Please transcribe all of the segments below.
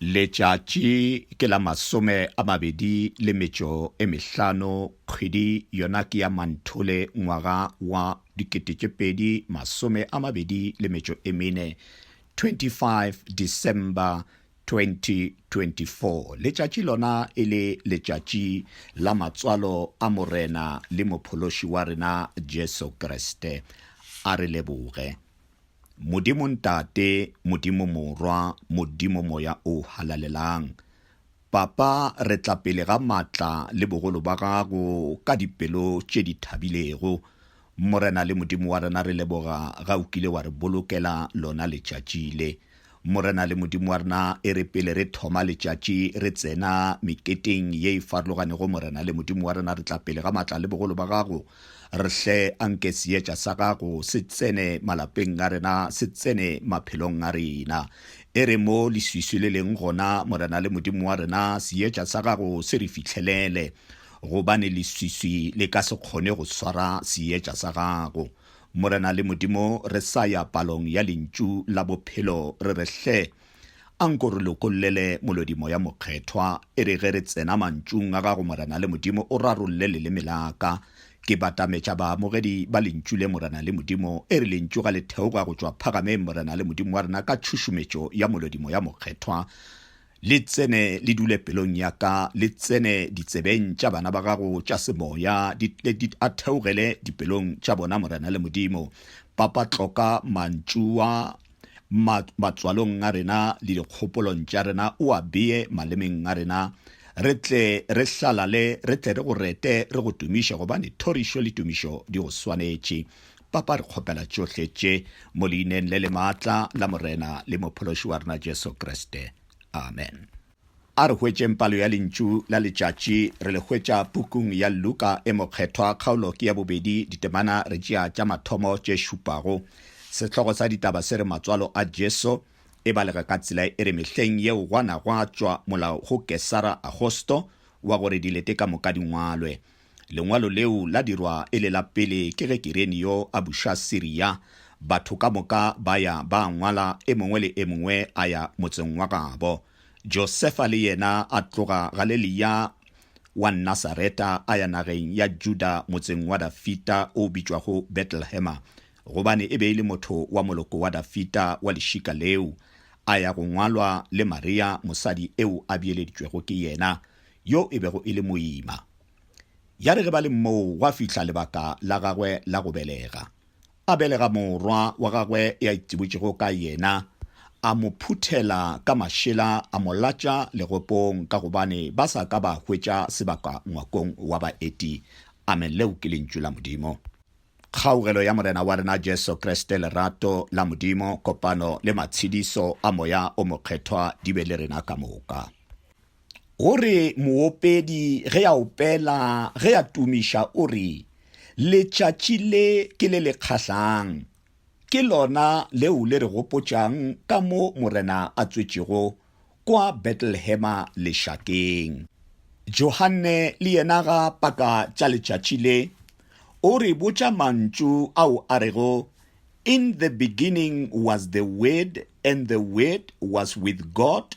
Letšatši ke la masome a mabedi le metšo e mehlano, kgwedi yona ke ya Manthole ngwaga wa dikete tše pedi masome a mabedi le metšo e mene, 25 December 2024. Letšatši lona e le letšatši la matswalo a Morena le Mophološi wa rena Jesu Kriste. A re leboge. Modimo Ntate, Modimo Morwa, Modimo Moya o Halalelang, Papa, re tla pele ga matla le bogolo ba gago ka dipelo tše di thabilego. Morena le Modimo wa rena, re leboga ga o kile wa re bolokela lona letšatši le. Morena le Modimo wa rena, e re pele re thoma letšatši re tsena meketeng ye e farologanego, Morena le Modimo wa rena, re tla pele ga matla le bogolo ba gago. Re hle anke seetša sa gago se tsene malapeng a rena, se tsene maphelong a rena. E re mo leswiswi le leng gona, Morena le Modimo wa rena, seetša sa gago se re fihlelele, gobane leswiswi le ka se kgone go swara seetša sa gago. Morena le Modimo, re sa ya palong ya Lentšu la Bophelo, re re, Hle, a nko re lokollele molodi Moya Mokgethwa, e re ge re tsena Mantšung a Gago, Morena le Modimo, o rarolle leleme la ka. Ke batametša baamogedi ba Lentšu le, Morena le Modimo, e re Lentšu ga le theoga go tšwa Phagameng, Morena le Modimo wa rena, ka tšhušumetšo ya molodi Moya Mokgethwa. Le tsene le dule pelong ya ka, le tsene ditsebeng tša bana ba gago tša semoya, di tle di a theogele dipelong tša bona, Morena le Modimo. Papa tloka mantšu a ma, matswalong a rena le dikgopolong tša rena, o a beye malemeng a rena, re tle re hlalale, re tle re go rete, re go tumiše, gobane thorišo le tumišo di go swanetše. Papa, re kgopela tšohle tše mo leineng le le maatla la Morena le Mophološi wa rena Jesu Kriste. Amen. A re hwetšeng palo ya Lentšu la letšatši. Re le hwetša pukung ya Luka e Mokgethwa, kgaolo ke ya bobedi, ditemana re tšea tša mathomo tše šupago. Sehlogo sa ditaba se re Matswalo a Jesu, e balega ka tsela e re mehleng yeo gwa na gwa tšwa molao go Kesara Agosto wa gore dilete ka moka di ngwalwe. Lengwalo leo la dirwa e le la pele ke ge Kirenio a buša Siria. Batho ka moka ba ya ba ngwala, e mongwe le e mongwe a ya motseng wa gabo. Josefa le yena a tloga Galelia wa Nasareta a ya nageng ya Juda motseng wa Dafita o bitšwago Betlehema, gobane e be e le motho wa moloko wa Dafita wa lešika leo. A ya go ngwalwa le Maria mosadi eo a bieleditšwego ke yena. yo e bego e le moima. Ya re ge ba le moo gwa fihla lebaka la gagwe la go belega. A belega morwa wa gagwe ya itšibotšego ka yena, a mo phuthela ka mašela a mo latša legopong ka gobane ba sa ka ba hwetša sebaka ngwakong wa baeti. Amen, leo ke lentšu la Modimo. Kgaugelo ya Morena wa rena Jesu Kriste, lerato la Modimo, kopano le matshediso a Moya o Mokgethwa di be le rena ka moka. O re moopedi ge a opela ge a tumiša o re, Letšatši le ke le le kgahlang. Ke lona leo le re gopotšang ka mo Morena a tswetšego kwa Betlelehema lešakeng. Johanne le yena ga a paka tša letšatši le, o re botša mantšu ao a rego, In the beginning was the Word, and the Word was with God,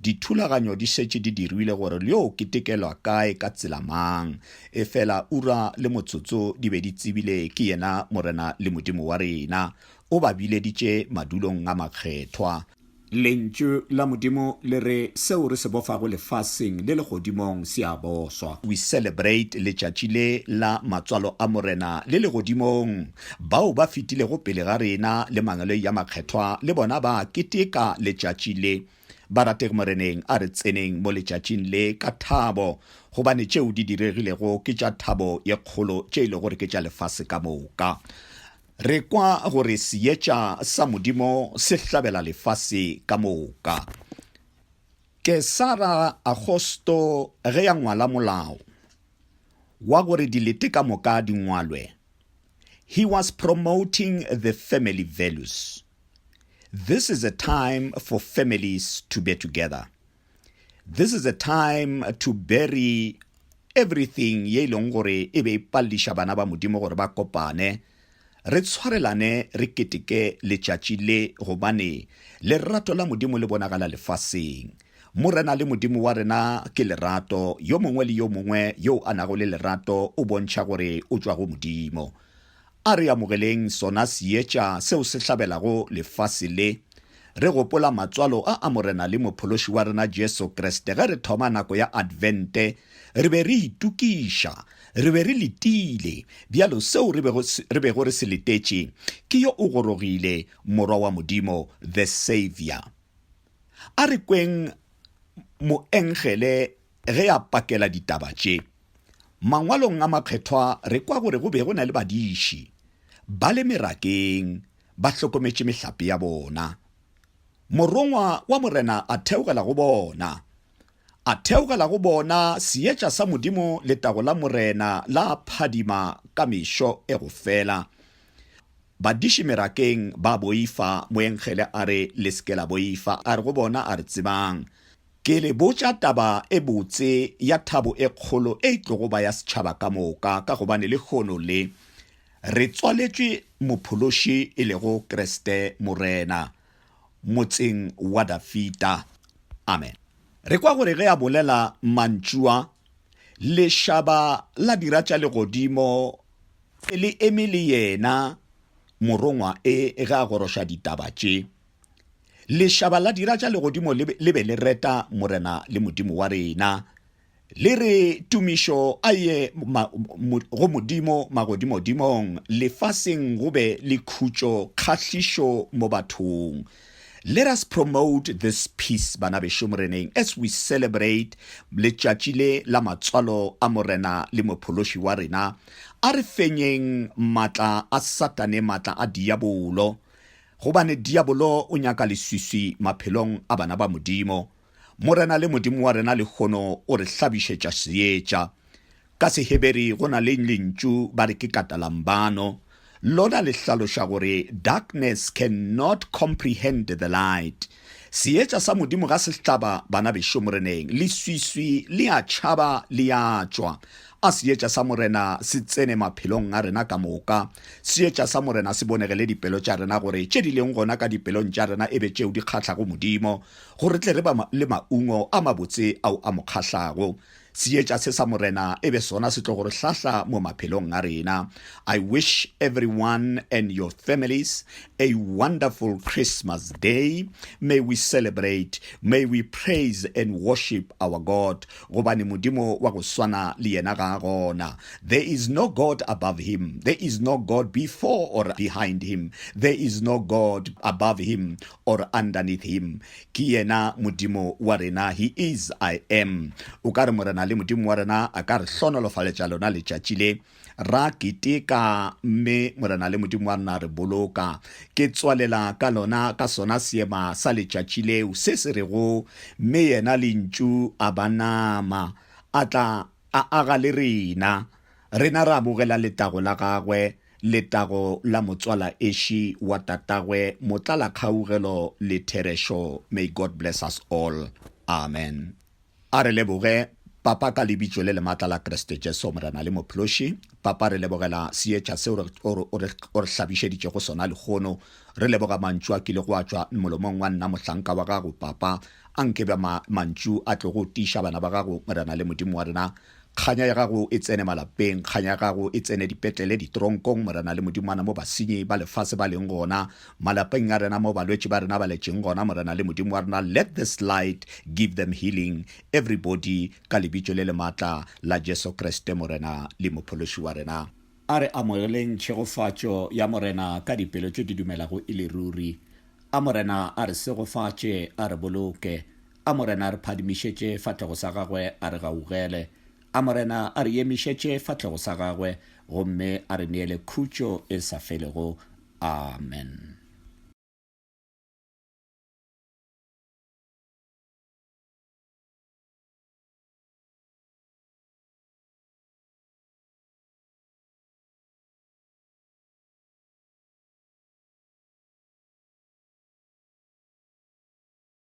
Dithulaganyo di šetše di dirilwe gore lyo ketekelwa kae ka tsela mang, efela ura le motsotso di be di tsebile ke yena Morena le Modimo wa rena, o ba bileditše madulong a makgethwa. Lentšu la Modimo le re, Seo re se bofago lefaseng le legodimong se a boswa. We celebrate letšatši le la matswalo a Morena le legodimong. Bao ba fetilego pele ga rena le mangeloi a makgethwa le bona ba keteka letšatši le. Barategi Moreneng a re tseneng mo letšatšing le ka thabo, gobane tšeo di diregilego ke tša thabo ye kgolo tše e le gore ke tša lefase ka moka. Re kwa gore seetša sa Modimo se hlabela lefase ka moka. Kesara Agosto ge ya ngwala molao wa gore dilete ka moka di ngwalwe, he was promoting the family values. This is a time for families to be together. This is a time to bury everything ye e leng gore e be e palliša bana ba modimo gore ba kopane re tshwarelane re keteke letšatši le gobane lerato la modimo le bonagala lefaseng morena le modimo wa rena ke lerato yo mongwe le yo mongwe yo a nago le lerato o bontšha gore o tšwa go modimo A re amogeleng sona seetša seo se hlabelago lefase le, re gopola matswalo a a Morena le Mophološi wa rena Jesu Kriste. Ge re thoma nako ya Advente, re be re itokiša, re be re letile, bjalo seo re bego, re bego re se letetše ke yo o gorogile, Morwa wa Modimo, the Saviour. A re kweng moengele Ge a pakela ditaba tše, Mangwalong a Makgethwa re kwa gore go be go na le badiši ba le merakeng ba hlokometše mehlape ya bona. Morongwa wa Morena a theogela go bona. A theogela go bona Seetša sa Modimo letago la Morena la phadima ka mešo e go fela. Badiši merakeng ba boifa, moengele a re, Le se ke la boifa. A re go bona, A re tsebang. Ke le botša taba e botse ya thabo e kgolo e tlogo ba ya setšhaba ka moka, ka gobane lehono le, re tswaletšwe Mophološi, e lego Kriste Morena, Motseng wa Dafida. Amen. Re kwa gore ge a bolela mantšu a, lešaba la dira tša legodimo le eme le yena, morongwa e, ge a goroša ditaba tše. Lešaba la dira tša legodimo le be le reta Morena le Modimo wa rena, le re, Tumišo a ye go Modimo magodimodimong, lefaseng go be le khutšo, kgahlišo mo bathong. Let us promote this peace, bana bešo Moreneng, as we celebrate letšatši le la matswalo a Morena le Mophološi wa rena. A re fenyeng matla a Satane, matla a diabolo. Gobane diabolo o nyaka leswiswi maphelong a bana ba Modimo. Morena le Modimo wa rena lehono o re hlabišetša seetša. Ka Seheberi go na le lentšu ba re ke katalambano, lona le hlaloša gore darkness can not comprehend the light. Seetša sa Modimo ga se hlaba bana bešo moreneng, leswiswi le a tšhaba le a tšwa. A seetša sa Morena se tsene maphelong a rena ka moka. Seetša sa Morena se bonegele dipelo tša rena gore tše di leng gona ka dipelong tša rena e be tšeo di kgahlago Modimo, gore tle re ba le maungo a mabotse ao a mo kgahlago. Seetša se sa Morena e be sona se tlogo re hlahla mo maphelong a rena. I wish everyone and your families a wonderful Christmas day. May we celebrate, may we praise and worship our God gobane Modimo wa go swana le yena ga a gona. There is no God above him, there is no God before or behind him, there is no God above him or underneath him ke yena modimo wa rena he is i am o ka re morena le modimo wa rena a ka re hlonolofaletša lona letšatši le ra keteka mme morena le modimo wa rena re boloka ke tswalela ka lona ka sona seema sa letšatši leo se se rego mme yena lentšu a ba nama a tla a aga le rena rena ra bogela letago la gagwe Letago la motswala eši wa tatagwe motlala kgaugelo le therešo may God bless us all amen a re leboge papa ka lebitšo le lematla la Kreste Jesu morena le mophloši papa re lebogela seetša se o re hlabišeditšego sona lehono re leboga mantšu a kile go a tšwa molomong wa nna mohlanka wa gago papa a nke ba mantšu a tlogo tiiša bana ba gago morena le modimo wa rena Kganya ya gago e tsene malapeng, kganya ya gago e tsene dipetlele, ditoronkong, Morena, le Modimana, mo basenyi ba lefase ba leng gona, malapeng a rena, mo balwetši ba rena ba letšeng gona, Morena le Modimo wa rena, let this light give them healing, everybody, ka Lebitso le le matla la Jesu Kriste, Morena le Mophološi wa rena. A re amogeleng tšhegofatšo ya Morena ka dipelo tše di dumelago e le ruri. A Morena a re segofatše, a re boloke, A Morena a re phadimišetše fahlego sa gagwe, a re gaugele. A Morena a re emišetše fahlego sa gagwe, gomme a re neele khutšo e sa felego. Amen.